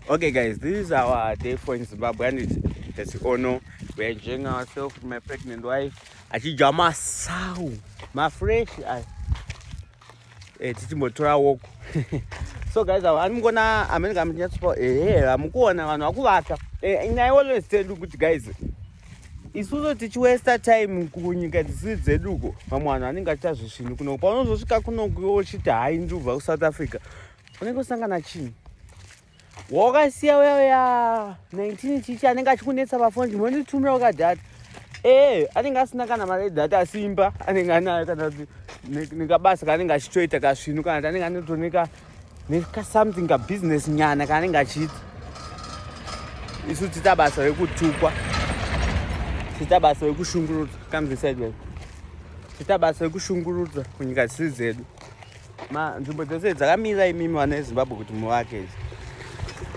Okay guys, this is our day for in Zimbabwe and it's, it's Ono. We're enjoying ourselves with my pregnant wife. Achija masawu, mafresh. Eh, tichimbotora walk. so guys ava ani mukuona amene kamunyatsopa ehe vamukuona vanhu vakuvata and i always tell you kuti guys isusu tichiwesta time kunyika dzisiri dzeduko vamwe vanhu vanenge achita zvisvinu kunoku paunozosvika kunoku wochiti hai ndubva kusouth africa unenge usangana chinhu wakasiya uya uya 19 chichi anenge achikunetsa pafoni chimwe nditumira ukadhata ee eh, anenge asina kana mari yedhata asi imba anenge anayo kana kuti nekabasa kaanenge achitoita kasvinu kana kuti anenge anotoneka nekasomething kabusiness nyana kaanenge achiita isu tiita basa rekutukwa tiita basa rekushungurudza kamzisaidwai tiita basa rekushungurudza kunyika dzisiri dzedu Ma nzvimbo dzose dzakamira imimi vana veZimbabwe kuti muvake idzi.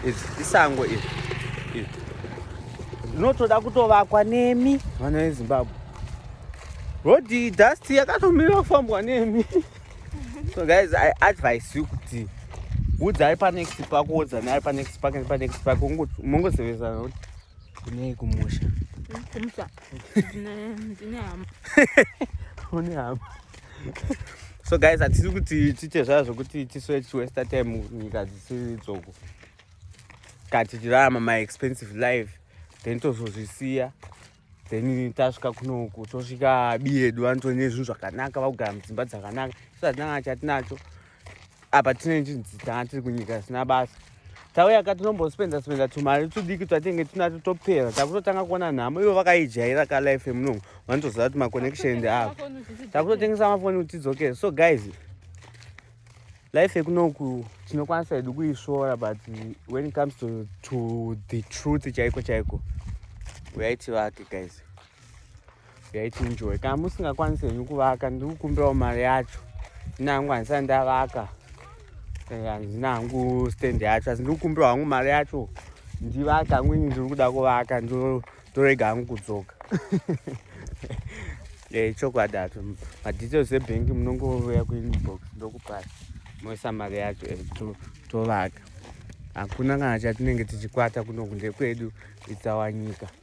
Idzi isango iri. Iri. Rinotoda kutovakwa nemi vana veZimbabwe. Road dust yakatomira kufambwa nemi. So guys, I advise you kuti udzai pa next park wodza naye pa next park and pa next park mongosevezana kuti kunei kumusha. Kumusha. Ndine hama. Une hama. so guys hatisi kuti tiite zvaya zvokuti tisoe tichiwesta time nyika dzisiri dzoko ka tichirarama my expensive life then tozozvisiya then tasvika kunoku tosvika biyedu vanotone zvinhu zvakanaka vakugara mudzimba dzakanaka so hatinanga chatinacho apa tine chinzi tanga tiri kunyika zvisina basa tauya ka tinombospenda spenda tumari tudiki twatenge tinato topera takutotanga kuona nhamo ivo vakaijaira ka life yemunongo vanotoziva kuti maconnection ndi avo takutotengesa mafoni kuti tidzokere so guys life yekunoku tinokwanisa hedu kuisvora but when it comes to, to the truth chaiko chaiko uyaiti vake guys yaichinjoy kana musingakwanisi henyu kuvaka ndikukumbirawo mari yacho ndinangu handisa ndavaka eh, handina hangu stand yacho asi ndikukumbirawo hangu mari yacho ndivaka hangu ini ndiri kuda kuvaka ndorega hangu kudzoka eh, chokwadi acho madetails ebhengi munongouya kuinbox ndokupai moisa mari yacho eh, tovaka hakuna kana chatinenge tichikwata kuno kunde kwedu itsawanyika to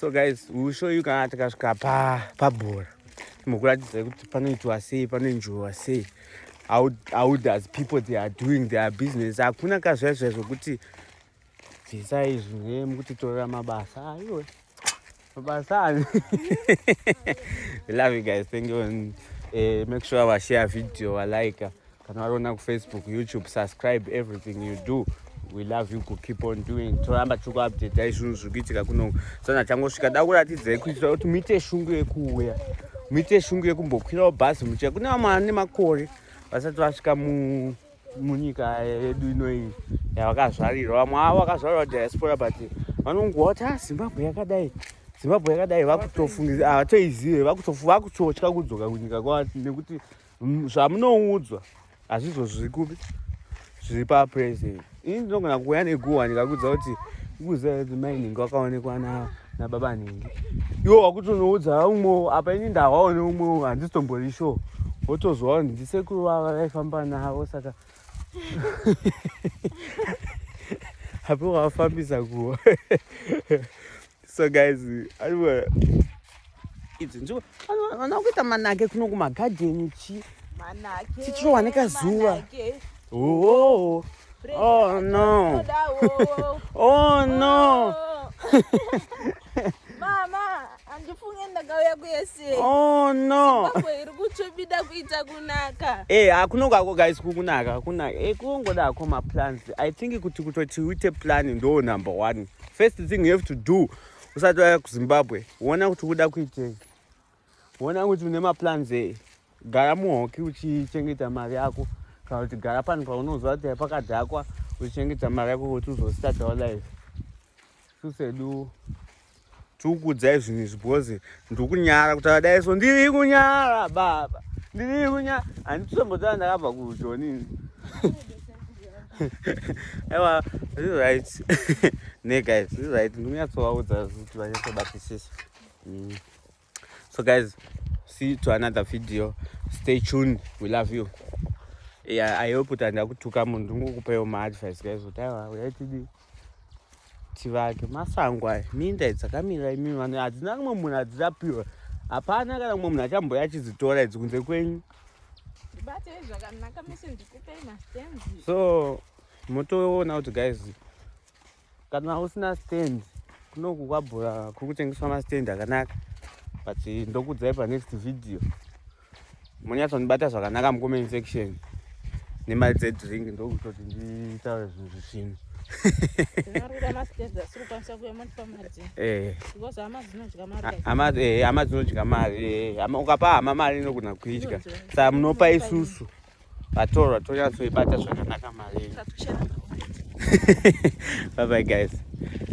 so guys we will show you kana tikasvika pabhora mukuratidza kuti panoitwa sei panoenjoiwa sei how, how does people they are doing their business hakuna kazvaizvai zvokuti bvisa izvi ne mukutitorera mabasa aiwe mabasa ani love you guys thank you and, uh, make sure vashare video valike kana wariona kufacebook youtube subscribe everything you do we love you kukeep on doing toramba tiri kuupdata zvinhu zviri kuitika kuno sana changosvika da kuratidzai kuitira kuti muite shungu yekuuya muite shungu yekumbokwirawo bhazi muchia kune vamwe vane makore vasati vasvika munyika yedu inoiyi yavakazvarirwa vamwe avo vakazvarirwa diaspora but vanongowa kuti a ah, zimbabwe yakadai zimbabwe yakadai vakutofungiza havatoizive ah, vakutotya kudzoka kunyika kwavo nekuti zvamunoudzwa hazvizvo zviri kupi zviri papresent ini ndinogona kuuya neguhwa ndikakuudza kuti kuziva kuti mai nhingi wakaonekwa nababa nhingi iwo wakutonoudza umwe apa ini ndawaone umwe handisitombori sure wotozowa kuti ndisekuru vava vaifamba navo saka apo wafambisa kuwa so guys aiwa idzi nzvimbo vana kuita manake kuno kumagadheni chi tichirohwa nekazuva oh, oh no oh no mama handifunge ndakauya kuese oh no iri kutsvobida kuita kunaka e eh, hakunongo ako guys kukunaka hakunaka e eh, kunongoda ako maplans i think kuti kutoti uite plan ndo number one first thing you have to do usati waya kuzimbabwe wona kuti uda kuitei wona kuti une maplans ei gara muhoki uchichengeta mari yako kana kuti gara pano paunoziva kuti pakadhakwa uchichengeta mari yako kuti uzostartawo life susedu tikukudzai zvinhu izvi because ndikunyara kutaura dai so ndiri kunyara baba ndiri kunyara handitombotaura ndakabva kujoni aiwa zviri right ne guys zviri right ndikunyatsovaudza kuti vanyatsobatisisa mm. so guys see to another video stay tuned we love you yeah, i hope kuti handakutuka munhu ndingokupawo maadvice guys kuti aiwa uyaitidii chivake masango aya minda idzakamira imi vanhu hadzina kumwe munhu adzichapiwa hapana kana kumwe munhu achamboya achidzitora idzi kunze kwenyu so motoona kuti guys kana usina stand kunoku kwabhura kuri kutengeswa mastand akanaka but ndokudzai panext video munyatsondibata zvakanaka mucomment section nemari dzedrink ndokutoti nditaure zvinhu zvisvinu hama dzinodya mari ukapa hama mari inogona kuidya saa munopa isusu vatorwa tonyatsoibata zvakanaka mari babai guys